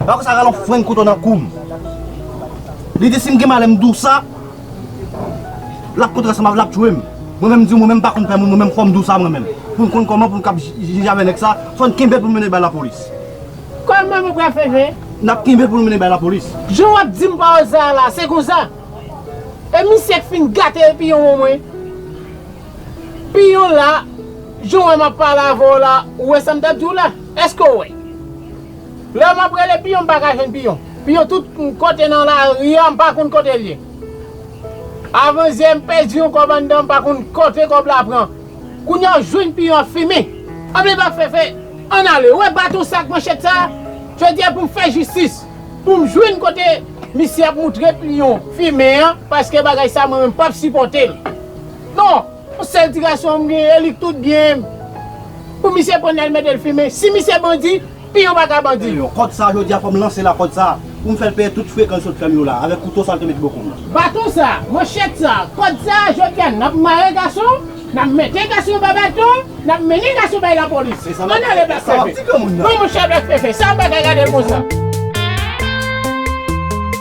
Epa konsa ralon frenk kouto nan koum. Li di sim gen malè m dousa lap kontre sa mav lap tchwem. Mwen menm di mwen menm pa konn pè moun mwen menm fòm dousa mwen menm. Poun konn kòman poun kap jije avè nèg sa fòn kenbel poun mennen bay la polis. Kòman mwen pral fè jwe? Nap kenbel poun mennen bay la polis. Jan wap dim pawòl sa a la se konsa e misye k fin gate epiyon an mwen. Piyon la jan wè map pale avèw la ou wè sam tap diw la? Eske w wè? Lè map rele piyon m pa ka jwenn piyon. Piyon tout kote nan lari a m pa konn kote l ye. Avan yè m pèdi yon kòb anndan m pa konn kote kòb la pran. Kounya w jwenn piyon ap fimen. Anmle pa fefe Ann ale we baton sa ak manchèt sa Jodi a pou m fè jistis pou m jwenn kote misye ap moutre piyon fimen an paske bagay sa mwen menm pap sipòte l non. Yon sèl ti gason m gen e li k tout byen m Pou misye pran nèl metel fimen Si misye bandi piyon pa ka bandi. Eyon kòd sa jodi a fòm lansel a kòd sa poum fèl peye tout frekan li sot fèm yo la avèk kouto sal te mete bò koum nan. Baton sa, manchèt sa, kòd sa jodi a nap mare gason, nap mete gason ba baton, nap mennen gason bay lapolis. Ann ale Black Pepe. Non monchè Black Pepe sa bagay gadel konsa.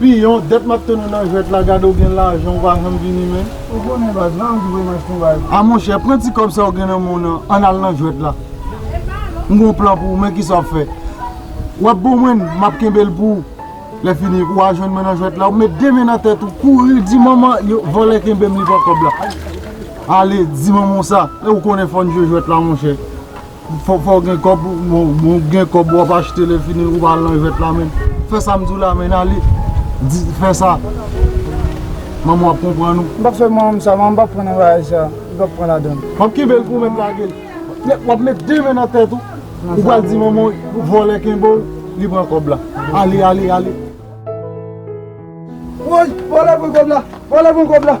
Piyon, det map tann ou nan jwet la gade ou gen lajan ou pa janm vini menn. Ou konnen baz la ou ki voye mach pou baz. A monchè pran ti kob sa ou gen nan menw nan an al nan jwet la. M gon plan pou ou men kisa wap fè. Wap bon mwen map kenbel pou ou. Le fini ou a jwenn mwen nan jwet la ou met 2 men nan tet ou kouri di manman yo vole kenbem li pran kob la. Ale di manman w sa. Ou konnen fòn jwe jwet la monchè. Fòw gen kòb bon ou gen kòb wap achte lè fini ou pa al nan jwèt la men fè sam diw la men ale di fè sa manmanw ap konprann ou. Mpap fè manmanm sa manmanm pap pran nan bagay sa li pap pran ladann. Wap kenbel pou mèt lagel. Wap met 2 men nan tèt ou ou pral di manmanw vòlè kenbew li pran kòb la ale ale ale. Woy vòlè pran kòb la vòlè pran kòb la.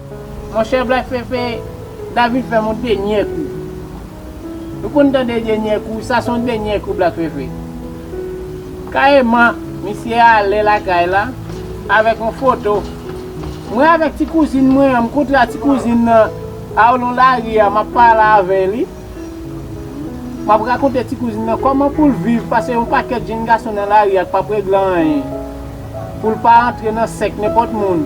Monchè black fefe, David fèm yon denyè kou. Nou konn tande denyè kou, sa son denyè kou black fefe. Kareman misye ale lakay la avèk yon foto mwen avèk ti kouzin mwen an, m kontra ti kouzin nan alon lari a map pale avè li. Map rakonte ti kouzin nan kòman poul viv pase yon pakèt jenn gason nan lari a k pap regle anyen. Poul pa antre nan sèk nenpòt moun.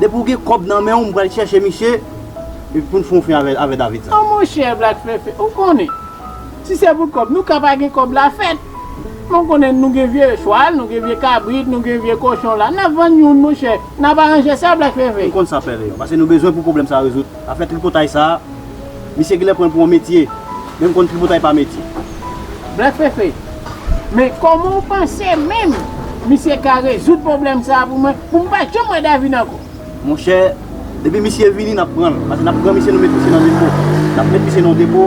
Depi ou gen kob nan menw m pral chèche misye epi poun fon fen avè David sa. An monchè Black Fefe ou konnen si se pou kob nou ka pa gen kob la fèt men ou konnen nou gen vye chwal nou gen vye kabrit nou gen vye kochon la nap vann youn monchè nap aranje sa Black Fefe. M konn sa pè Leon pase nou bezwen pou pwoblèm sa rezoud. Afè tripotay sa a, misye genlè pran l pou yon metye, men m konn tripotay pa metye. Blè Fefe, Men kòman w panse menm misye ka rezoud pwoblèm sa a pou mwen, pou m pa janm wè Davina ankò? Monchè, depi misye vini n ap pran l, pase n ap pran misye nou met misye nan depo, n ap met misye nan yon depo,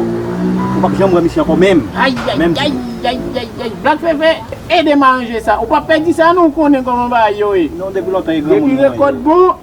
ou pap janm wè misye ankò menm, menm di. Ayayayayayayayay! Blak Fefe, ede m aranje sa, ou pap pè di sa non, ou konnen kòman bagay yo ye. Non depi lontan e granmoun mwen. Depi rekòt bon.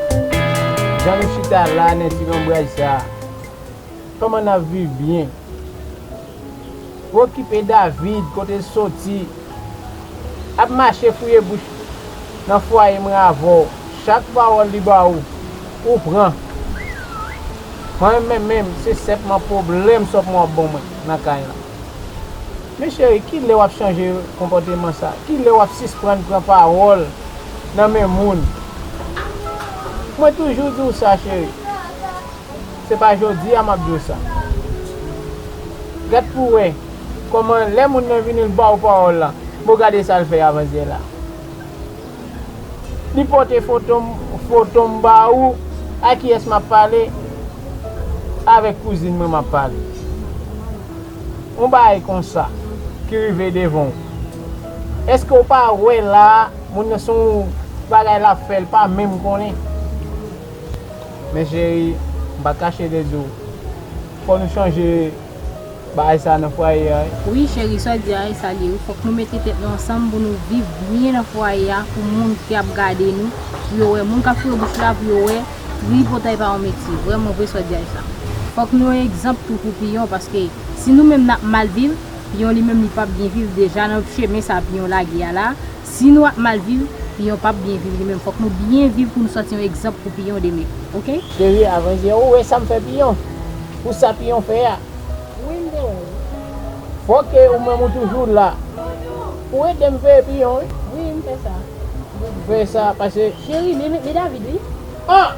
Jan nou chita la nan ti lonbraj sa a, kòman n ap viv byen? Pwokipe David, kote l soti, ap mache fouye bouch nan fwaye mwen avè w. Chak pawòl li ba ou, ou pran. Mwen menm menm, se senpman pwoblèm sòp mwen w ap ban mwen nan kay lan. Men cheri, ki lè w ap chanje konpòteman sa a? Ki lè w ap sisprann pran pawòl? nan men moun mwen toujou di w sa cheri se pa jodi a map di w sa gad pou wè kòman lè moun nan vini l ba w pawòl la bon gade sa l fè avan zyè la li pote foto m foto m ba ou a kiyès map pale avèk kouzin mwen map pale yon bagay konsa ki rive devan w. Eske ou pa wè la moun nan son bagay lap fè li pa menm konnen. Men cheri m pa kache de di w fò nou chanje bagay sa nan fwaye a wi. Wi cheri sa w di a se sa l ye wi fòk nou mete tèt nou ansanm pou nou viv byen nan fwaye a pou moun ki ap gade nou pou yo wè moun kap foure bouch la pou yo wè tripotay pa yon metye vrèman vre sa w di a se sa fòk nou yon egzanp tou pou piyon paske si nou menm nap mal viv Piyon li menm li pap byen viv deja nan chemen sa piyon lage a la, si nou ap mal viv piyon pap byen viv li menm fòk nou byen viv pou nou soti yon egzanp pou piyon demen ok. Cheri avan je ou wè sam fè piyon pou sa piyon fè a. Wi m te wè l. Fòke ou menm ou toujou la. Ou edem veye piyon wi. Wi m fè sa. Fè sa pase. Cheri li David wi. An!